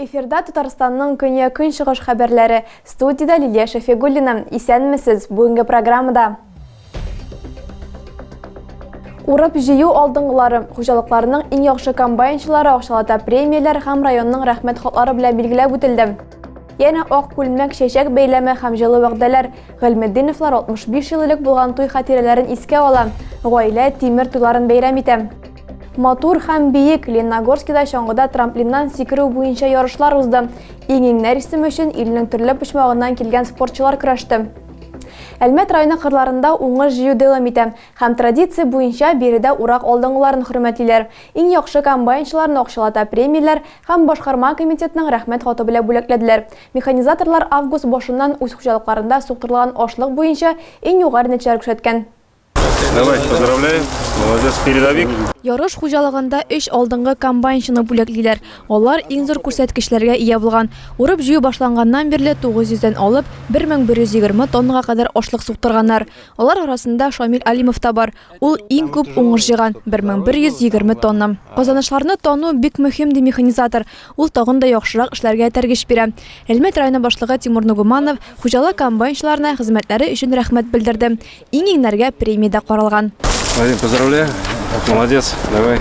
Эфирда Татарстанның көне көнчыгыш хәбәрләре. Студиядә Лилия Шәфигуллина. Исәнмесез. Бүгенге программада Урып җыю алдыңгылары, хуҗалыкларның иң яхшы комбайнчылары акчалата премияләр һәм районның рәхмәт хатлары белән билгеләп үтелде. Янә ак күлмәк, чәчәк бәйләме һәм җылы вәгъдәләр. Гыйльметдиновлар 65 ел элек булган туй хатирәләрен искә ала, гаилә тимер туйларын бәйрәм итә. Матур һәм биек Ленногорскида чаңгыда трамплиннан сикерү буенча ярышлар узды. Иң-иңнәр исеме өчен илнең төрле почмагыннан килгән спортчылар көрәште. Әлмәт районы кырларында уңыш җыю дәвам итә һәм традиция буенча биредә урак алдынгыларын хөрмәтлиләр, иң яхшы комбайнчыларны акчалата премияләр һәм башкарма комитетның Рәхмәт хаты белән бүләкләделәр. Механизаторлар август башыннан үз хуҗалыкларында суктырылган ашлык буенча иң югары нәтиҗәләр күрсәткән. Давай, поздравляем. Молодец, передовик. Ярыш хуҗалыгында өч алдынгы комбайнчыны бүләклиләр. Алар иң зур күрсәткечләргә ия булган. Урып җыю башланганнан бирле 900-дән алып 1120 тоннага кадәр ашлык суктырганнар. Алар арасында Шамил Алимов та бар. Ул иң күп уңыш җыйган 1120 тонна. Казанышларны тану бик мөһим ди механизатор. Ул тагын да яхшырак эшләргә этәргеч бирә. Әлмәт районы башлыгы Тимур Нугуманов хуҗалык комбайнчыларына хезмәтләре өчен рәхмәт белдерде. Иң иңнәргә премия дә каралган. Вадим, поздравляю. Молодец. Давай.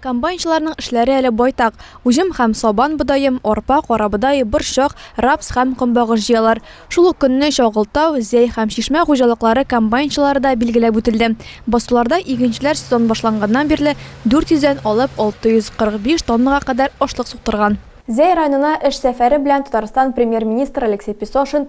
Комбайнчыларның эшләре әле байтак. Уҗым һәм сабан бодаем, арпа, карабодай, борчак, рапс һәм комбагыш җыялар. Шул ук көнне Чагылтау, Зәй һәм Чишмә хуҗалыклары комбайнчылары да билгеләп үтелде. Басуларда игенчеләр сезон башланганнан бирле 400 дән алып 645 тоннага кадәр ашлык суктырган. Зәй районына эш сәфәре белән Татарстан Премьер-министры Алексей Песошин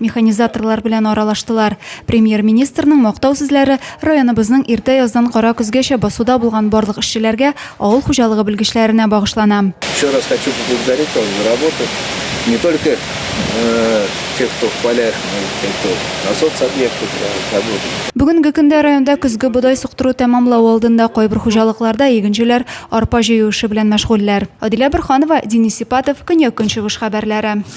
Механизаторлар белән аралаштылар. Премьер-министрның мактау сүзләре районыбызның иртә яздан кара көзгәчә басуда булган барлык эшчеләргә, авыл хуҗалыгы белгечләренә багышлана. Еще раз хочу поблагодарить вас за работу. Не только э, те, кто в полях, но и те, кто на соцобъектах э, работает. Бүгенге көндә районда көзге бодай суктыру тәмамлау алдында кайбер хуҗалыкларда игенчеләр арпа җыю эше белән мәшгульләр. Адилә Борханова, Денис Сипатов, Көньяк-Көнчыгыш хәбәрләре.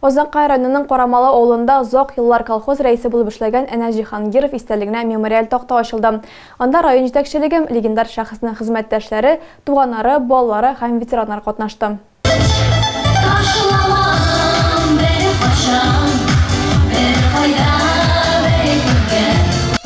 Азнакай районының Карамалы авылында озак еллар колхоз рәисе булып эшләгән Әнәс Җиһангиров истәлегенә мемориаль такта ачылды. Анда район җитәкчелеге, легендар шәхеснең хезмәттәшләре, туганнары, балалары һәм ветераннар катнашты.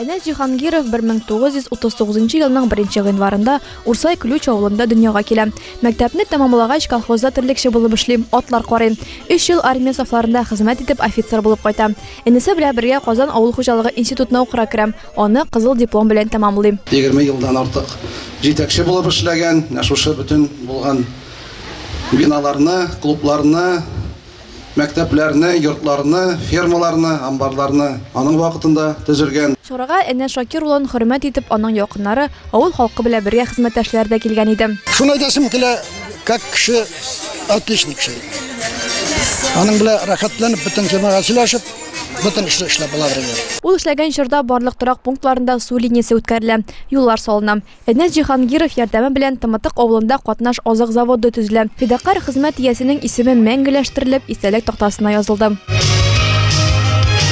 Әнәс Җиһангиров бер мең тугыз йөз утыз тугызынчы елның беренче гыйнварында Урсай Ключ авылында дөньяга килә. Мәктәпне тәмамлагач, колхозда терлекче булып эшли, атлар карый. Өч ел армия сафларында хезмәт итеп, офицер булып кайта. Энесе белән бергә Казан авыл хуҗалыгы институтына укырга керә, аны кызыл диплом белән тәмамлый. Егерме елдан артык җитәкче булып эшләгән, менә шушы бөтен булган биналарны, клубларны, Мәктәпләрне, йортларны, фермаларны, амбарларны аның вакытында төзелгән. Чарага Әнәс Шакир улын хөрмәт итеп аның якыннары, авыл халкы белән бергә хезмәттәшләре дә килгән иде. Шуны әйтәсем килә, как кеше отличник шул. Аның белән рәхәтләнеп бөтен темага сөйләшеп, бөтен эшне эшләп була бергә. Ул эшләгән чорда барлык торак пунктларында су линиясе үткәрелә, юллар салына. Энес Җиһангиров ярдәме белән Тымытык авылында катнаш азык заводы төзелә. Фидакарь хезмәт иясенең исеме мәңгеләштерелеп, истәлек тактасына язылды.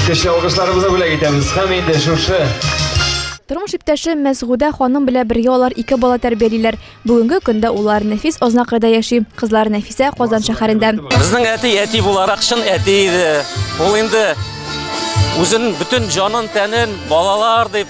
Көчле алгышларыбызны бүләк итәбез. Һәм инде шушы Тормыш иптәше Мәсгудә ханым белә бергә алар ике бала тәрбиялиләр. Бүгенге көндә уллар Нәфис Ознакайда яши, кызлары Нәфисә Казан шәһәрендә. Безнең әти әти буларак чын әти иде. Ул инде үзен бөтен җанын тәнен балалар дип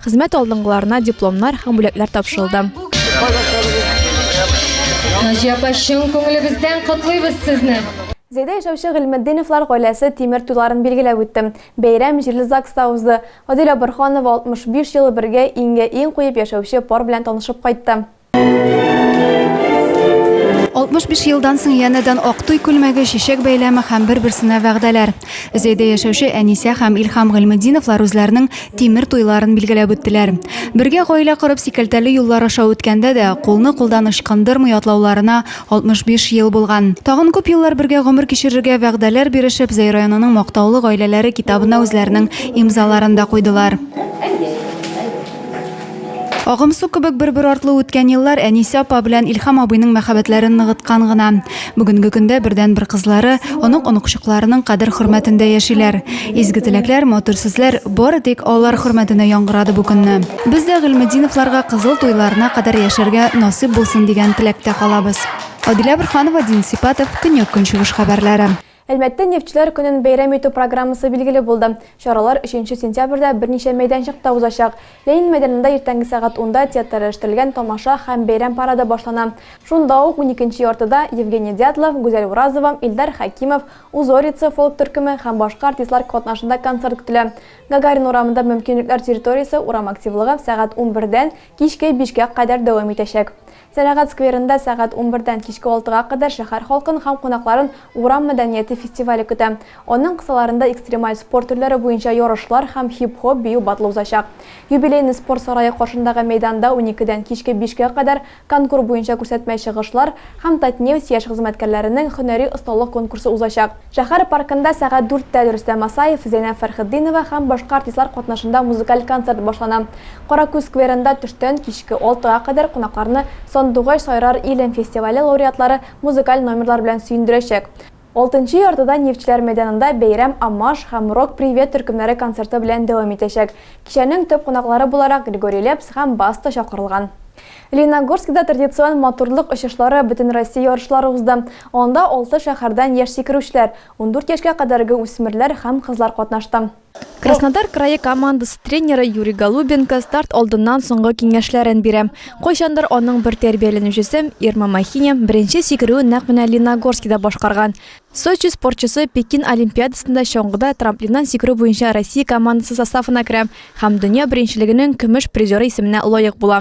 Хезмәт алдынгыларына дипломнар һәм бүләкләр тапшырылды. Наҗия апа, чын күңелебездән котлыйбыз сезне! Зәйдә яшәүче Гыйльметдиновлар гаиләсе тимер туйларын билгеләп үтте. Бәйрәм җирле ЗАГСта узды. Адилә Борһанова 65 ел бергә иңгә-иң куеп яшәүче пар белән танышып кайтты. 65 елдан соң янәдән Актуй күлмәге чәчәк бәйләме һәм бер-берсенә вәгъдәләр. Зәйдә яшәүче Әнисә һәм Илһам Гыйльметдиновлар үзләренең тимер туйларын билгеләп үттеләр. Бергә гаилә корып сикәлтәле юллар аша үткәндә дә, кулны кулдан ычкындырмый атлауларына 65 ел булган. Тагын күп еллар бергә гомер кичерергә вәгъдәләр бирешеп, Зәй районының мактаулы гаиләләре китабына үзләренең имзаларын да куйдылар. Агым су кебек бер-бер артлы үткән еллар Әнисә апа белән Илһам абыйның мәхәббәтләрен ныгыткан гына. Бүгенге көндә бердәнбер кызлары, онык-оныкчыкларының кадер-хөрмәтендә яшиләр. Изге теләкләр, матур сүзләр бары тик алар хөрмәтенә яңгырады бу көнне. Без дә Гыйльметдиновларга кызыл туйларына кадәр яшәргә насыйп булсын дигән теләктә калабыз. Адилә Борһанова, Дин Сипатов, Көньяк-Көнчыгыш хәбәрләре. Әлмәттә Нефтьчеләр көнен бәйрәм итү программасы билгеле булды. Чаралар өченче сентябрьдә берничә мәйданчыкта узачак. Ленин мәйданында иртәнге сәгать унда театральләштерелгән тамаша һәм бәйрәм парады башлана. Шунда ук уникенче яртыда Евгений Дятлов, Гүзәл Уразова, Илдар Хәкимов, Узорица фолк төркеме һәм башка артистлар катнашында концерт көтелә. Гагарин урамында мөмкинлекләр территориясе урам активлыгы сәгать унбердән кичке бишкә кадәр дәвам итәчәк. Сәнәгать скверында сәгать унбердән кичке алтыга кадәр шәһәр халкын һәм кунакларын Урам мәдәнияте фестивале көтә. Аның кысаларында экстремаль спорт төрләре буенча ярышлар һәм хип-хоп бию батлы узачак. Юбилейный спорт сарае каршындагы мәйданда уникедән кичке бишкә кадәр конкур буенча күрсәтмә чыгышлар һәм Татнефть яшь хезмәткәрләренең һөнәри осталык конкурсы узачак. Шәһәр паркында сәгать дүрттә Рөстәм Асаев, Зәйнәб Фәрхетдинова һәм башка артистлар катнашында музыкаль концерт башлана. Каракүз скверында төштән кичке алтыга кадәр кунакларны Сандугач сайрар илем фестивале лауреатлары музыкаль номерлар белән сөендерәчәк. Алтынчы яртыда Нефтьчеләр мәйданында бәйрәм Амаш һәм Рок Привет төркемнәре концерты белән дәвам итәчәк. Кичәнең төп кунаклары буларак Григорий Лепс һәм Баста чакырылган. Лениногорскида традицион матурлык очышлары бөтенроссия ярышлары узды. Анда алты шәһәрдән яшь сикерүчеләр, ундүрт яшькә кадәрге үсмерләр һәм кызлар катнашты. Краснодар крае командасы тренеры Юрий Голубенко старт алдыннан соңгы киңәшләрен бирә. Кайчандыр аның бер тәрбияләнүчесе, Ирма Махиня, беренче сикерүен нәкъ менә Лениногорскида башкарган. Сочи спортчысы Пекин олимпиадасында чаңгыда трамплиннан сикерү буенча Россия командасы составына керә һәм дөнья беренчелегенең көмеш призеры исеменә лаек була.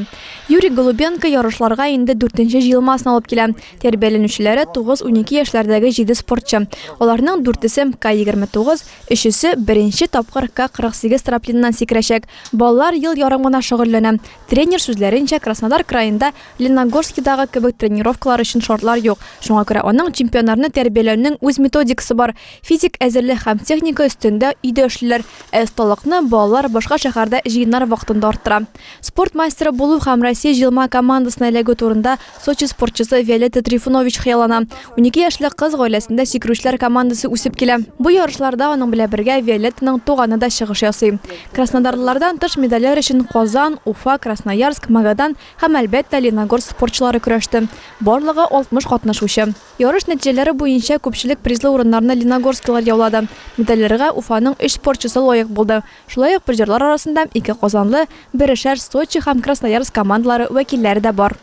Юрий Голубенко ярышларга инде дүртенче җыелмасын алып килә. Тәрбияләнүчеләре 9-12 яшьләрдәге җиде спортчы. Аларның дүртесе МК-29, өчесе беренче тапкыр К-48 трамплиныннан сикерәчәк. Балалар ел ярым гына шөгыльләнә. Тренер сүзләренчә, Краснодар краенда Леногорскидагы кебек тренировкалар өчен шартлар юк, шуңа күрә аның чемпионнарны тәрбияләүнең үз методикасы бар, физик әзерлек һәм техника өстендә өйдә эшлиләр, ә осталыкны балалар башка шәһәрдә җыеннар вакытында арттыра. Спорт мастеры булу һәм Россия җыелма командасына эләгү турында Сочи спортчысы Виолетта Трифунович хыяллана. Унике яшьлек кыз гаиләсендә сикерүчеләр командасы үсеп килә. Бу ярышларда аның белән бергә Виолеттаның туганы да чыгыш ясый. Краснодарлылардан тыш медальләр өчен Казан, Уфа, Красноярск, Магадан һәм, әлбәттә, Леногорск спортчылары көрәште. Барлыгы 60 катнашучы. Ярыш нәтиҗәләре буенча күпчелек призлы урыннарны леногорскилар яулады. Медальләргә Уфаның өч спортчысы лаек булды. Шулай ук призерлар арасында ике казанлы, берешәр Сочи һәм Красноярск командалары вәкилләре дә бар.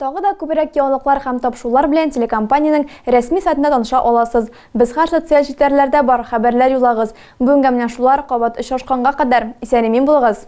Тагы да күбрәк яңалыклар һәм тапшырулар белән телекомпаниянең рәсми сайтында таныша аласыз. Без һәр социаль челтәрләрдә бар, хәбәрләр юллагыз. Бүгенгә менә шулар, кабат очрашканга кадәр, исән-имин булыгыз!